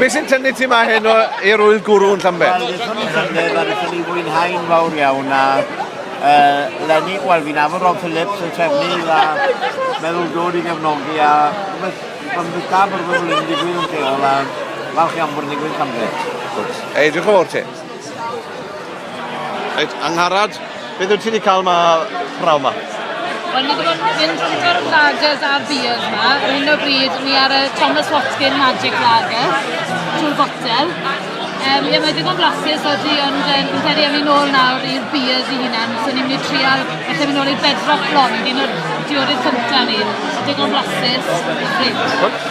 Be sy'n tynnu ti ma hyn o erwydd gwrw yn Llambed? Wel, ddethon ni llynedd a ddethon ni fwynhau'n fawr iawn a uh, Lenny, wel fi'n afon Rob Phillips yn trefnu a meddwl dod i gefnogi a rhywbeth pan bydd da bod rhywbeth yn digwydd yn lleol a falch iawn bod yn digwydd Llambed. Ei, diolch yn fawr ti. Reit, Angharad, beth wyt ti wedi cael ma praw ma? Wel, ni wedi bod yn mynd gyda'r lagers a beers ma. Ar hyn o bryd, ni ar y Thomas Watkin Magic Lager, trwy'r botel. Um, ie, mae digon blasus o di, ond um, fi'n credu am i'n ôl nawr i'r beers i hunan. So ni'n mynd i trial, felly mynd ôl i'r bedrock blond, un o'r diodydd cyntaf ni. Digon blasus, reit.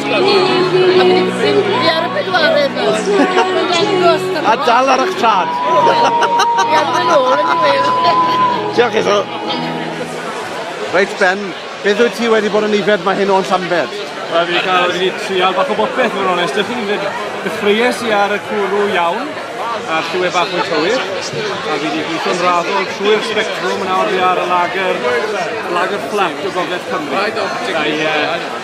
A dal ar eich traed. Diolch i chi. Reit Ben, beth wyt ti wedi bod yn yfed mae hyn o'n Llanbed? Wel, fi cael wedi trial bach o bopeth, mae'n onest. Dych chi'n fyd, dechreues i ar y cwrw iawn, a'r lliwe bach yn cywir, a fi wedi gweithio'n raddol trwy'r spectrwm yn awr fi ar y lager, lager fflat o gogledd Cymru. Da i, uh,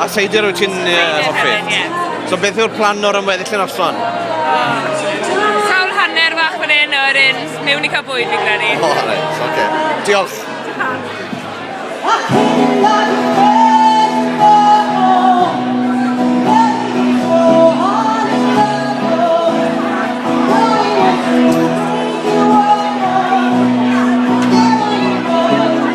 A seidr wyt ti'n uh, hoffi? So beth yw'r plan o'r ymweddill yn noson? Sawl hanner fach fan hyn o'r un mewn i cael bwyd i gredi. O, oh, reit, oce. Okay. Diolch. Diolch.